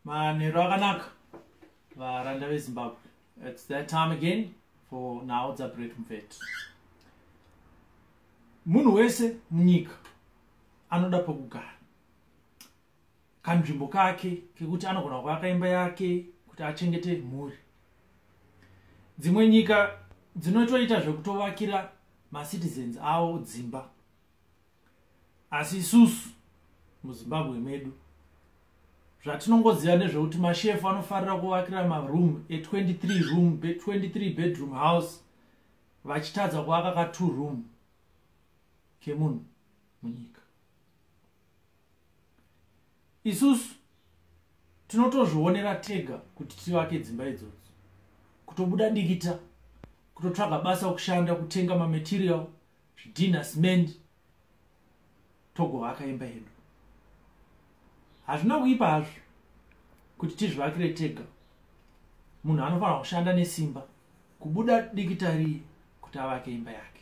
manheru akanaka varanda vezimbabwe its that time again for nhau dzabreak mvet munhu wese munyika anoda pokugara kanzvimbo kake kekuti anogona kuvaka imba yake kuti achengete mhuri dzimwe nyika dzinotoita zvekutovakira macitizens avo dzimba asi isusu muzimbabwe medu zvatinongoziva nezvekuti mashefu anofarira kuvakira maroom e23 room 23 bedroom house vachitadza kuvaka ka two room kemunhu munyika isusu tinotozvionera tega kuti tivake dzimba idzodzo kutobuda dikita kutotsvaga basa kushanda kutenga mamaterial zvidhinha cement togovaka imba yedu hazvina kuipa hazvo kuti tizvivakire tega munhu anofanira kushanda nesimba kubuda dikitariye kuti avake imba yake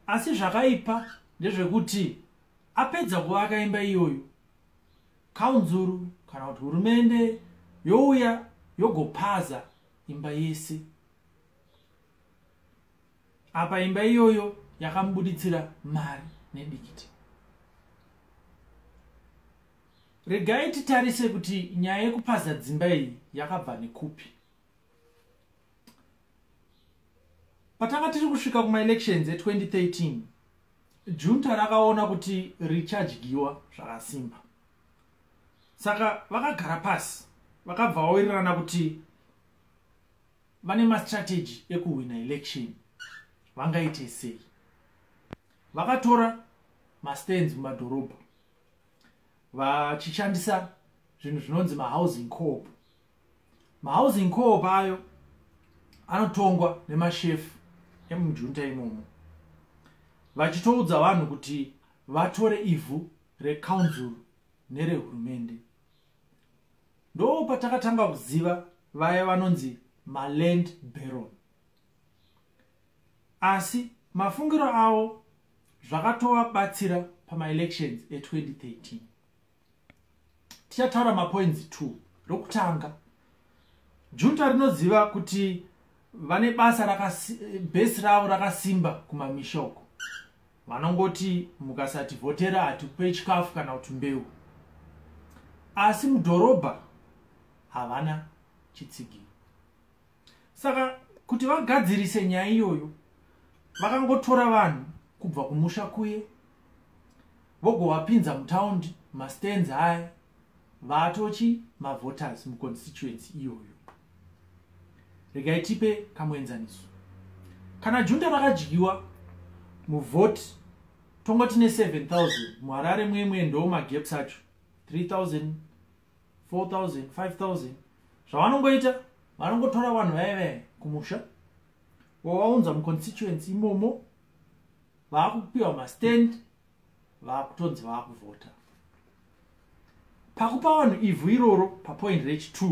asi zvakaipa ndezvekuti apedza kuvaka imba iyoyo kaunzuru kana kuti hurumende youya yogopaza imba yese apa imba iyoyo yakamubuditsira mari nedikiti regai titarise kuti nyaya yekupaza dzimba iyi yakabva nekupi patanga tiri kusvika kumaelections e2013 junta rakaona kuti richadyiwa zvakasimba saka vakagara pasi vakabva vawirirana kuti vane mastrategy ekuhwina election vangaite sei vakatora mastands mumadhorobha vachishandisa zvinhu zvinonzi mahousing coop mahousing coop ayo anotongwa nemashefu emujunta imomo vachitoudza vanhu kuti vatore ivhu recounzil nerehurumende ndoo patakatanga kuziva vaya vanonzi maland baron asi mafungiro avo zvakatovabatsira pamaelections e2013 tichataura mapoints t rokutanga junta rinoziva kuti vane basa bhesi ravo rakasimba kumamishoko vanongoti mukasativhotera hatikupe chikafu kana kuti mbeu asi mudhorobha havana chitsigiro saka kuti vagadzirise nyaya iyoyo vakangotora vanhu kubva kumusha kuye vogovapinza mutaundi mastands aya vatochi mavoters muconstituency iyoyo regai tipe kamuenzaniso kana junta vakadyiwa muvhoti tongoti ne 7000 muharare mwemwe ndo magaps acho 3000 4000 5000 zvavanongoita vanongotora vanhu vaye vaye kumusha wavaunza muconstituency imomo vaakupiwa mastand vakutonzi vakuvhota pakupa vanhu ivhu iroro papoint rech t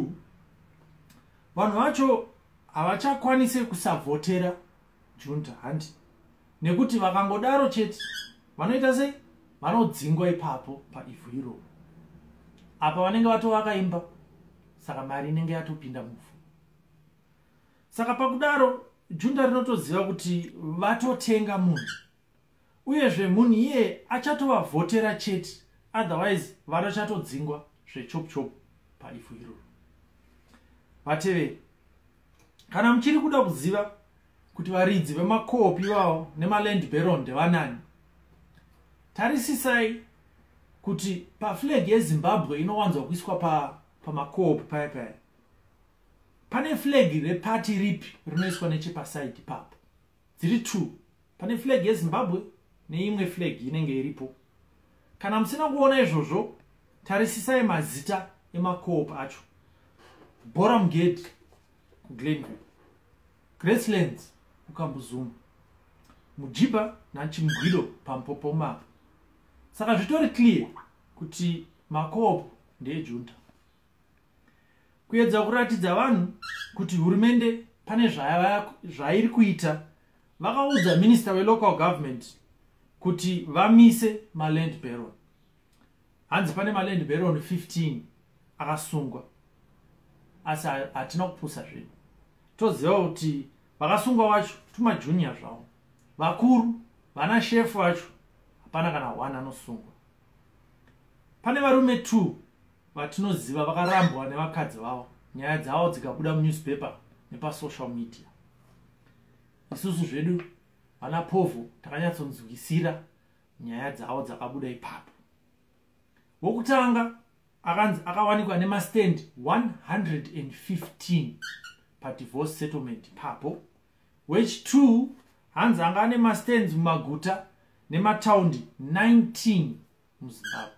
vanhu vacho havachakwanise kusavhotera junta handi nekuti vakangodaro chete vanoita sei vanodzingwa ipapo paivhu iroro apa vanenge vatovaka imba saka mari inenge yatopinda muvhu saka pakudaro junta rinotoziva kuti vatotenga munhu uyezve munhu iye achatovavhotera chete otherwise vanochatodzinngwa zvechop chop paifu iroro vateveri kana muchiri kuda kuziva kuti varidzi vemakopi vavo nemaland baron ndevanani tarisisai kuti paflag yezimbabwe inowanzwa kuiswa pamakopi pa paya paya pane flag repati ripi rinoiswa nechepasaidi papo dziri two pane flag yezimbabwe neimwe flag inenge iripo kana musina kuona izvozvo tarisisai mazita emacoop acho boram gate kuglenview gracelands kukambuzuma mujiba nachimgwido pampopomapa saka zvitori clear kuti macoop ndeejunta kuedza kuratidza vanhu kuti hurumende pane zvairi kuita vakaudza minista welocal government kuti vamise maland baron hanzi pane maland baron 15 akasungwa asi hatina kupusa zvinhu toziva kuti vakasungwa wacho tumajuniya zvavo vakuru vana shefu vacho hapana kana one anosungwa pane varume two vatinoziva vakarambwa nevakadzi vavo nyaya dzavo dzikabuda munewspaper nepasocial media isusu zvedu vana povhu takanyatsonzwisira nyaya dzavo dzakabuda ipapo wokutanga akanzi akawanikwa nemastand 115 padivorce settlement ipapo wechitwo hanzi anga ane mastands mumaguta nemataundi 19 muzimbabwe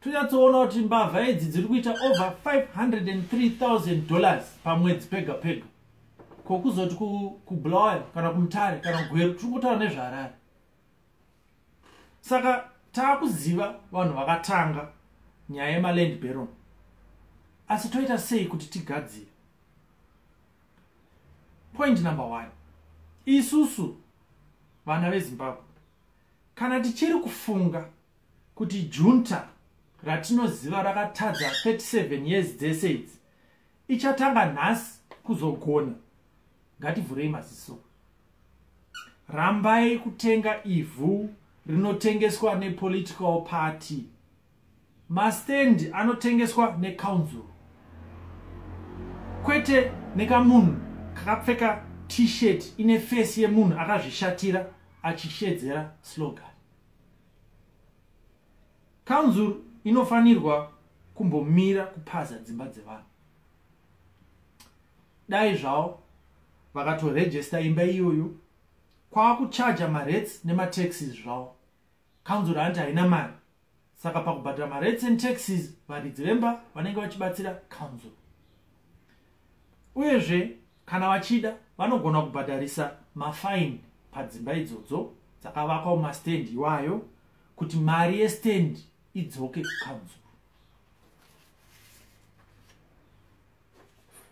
tonyatsoona kuti mbavha idzi dziri kuita over 503000 dollars pamwedzi pega pega ko kuzoti kubulawayo kana kumutare kana kugweru tiri kutaura nezvaharare saka taakuziva vanhu vakatanga nyaya yemaland baron asi toita sei kuti tigadzire point number one isusu vana vezimbabwe kana tichiri kufunga kuti junta ratinoziva rakatadza 37 years dzese idzi ichatanga nhasi kuzogona ngativhurei maziso rambai kutenga ivhu rinotengeswa nepolitical party mastendi anotengeswa necouncil kwete nekamunhu kakapfeka t-shirt ine fesi yemunhu akazvishatira achishedzera slogan Council inofanirwa kumbomira kupaza dzimba dzevanhu dai zvavo vakatorejesta imba iyoyo kwava kuchaja marets nemataxes zvavo council anti haina mari saka pakubhadhira marets and taxes varidzi vemba vanenge vachibatsira council uyezve Kana vachida vanogona kubhadharisa mafaini padzimba idzodzo dzakavakwa mumastendi iwayo kuti mari yestendi idzoke kukanzuru.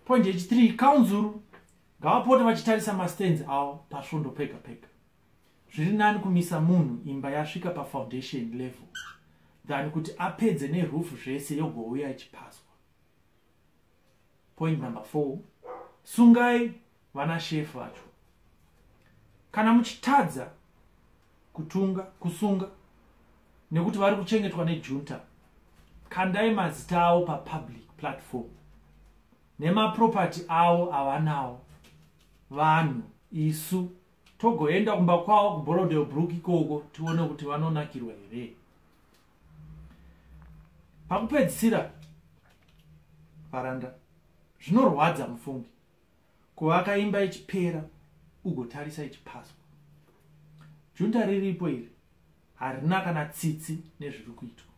Point yechitiri, kanzuru ngavapote vachitarisa mastendi avo pasvondo pega pega. Zviri nani kumisa munhu imba yasvika pafoundation level than kuti apedze nerufu zvese yogouya ichipaswa. point number four sungai vana shef vacho kana muchitadza kutunga kusunga nekuti vari kuchengetwa nejunta kandai mazita avo papublic platform nemaproperty avo avanawo vanhu isu togoenda kumba kwavo kuborodel brook ikoko tione kuti vanonakirwa here pakupedzisira varanda zvinorwadza mufungi kuvaka imba ichipera ugotarisa ichipaswa junta riripo iri harina kana tsitsi nezviri kuitwa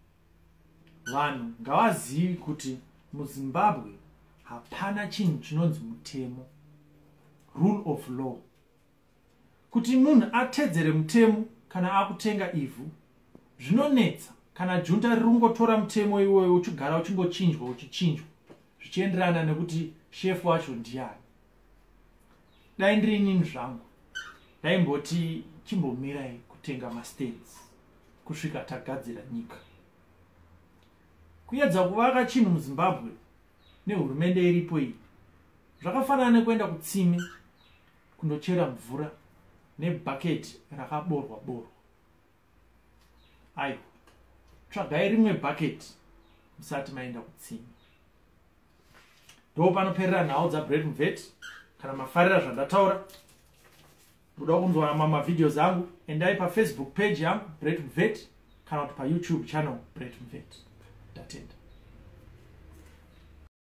vanhu ngavazivi kuti muzimbabwe hapana chinhu chinonzi mutemo rule of law Kuti munhu atedzere mutemo kana akutenga ivhu zvinonetsa kana junta riri kungotora mutemo iwoyo uchigara uchingochinjwa uchichinjwa zvichienderana nekuti shefu wacho ndiyani dai ndiri inini zvangu ndaimboti chimbomirai kutenga mastans kusvika tagadzira nyika kuyedza kuvaka chinhu muzimbabwe nehurumende iripo iyi zvakafanana nekuenda kutsime kundochera mvura nebhaketi rakaborwa borwa aiwa tsvagai rimwe bhaketi musati maenda kutsimi ndo panoperera nhau dzabread mvet kana mafarira zvandataura muda kunzwa mamwe mavideos angu endai pafacebook page yangu bread mvet kana kuti payoutube channel bread mvet ndatenda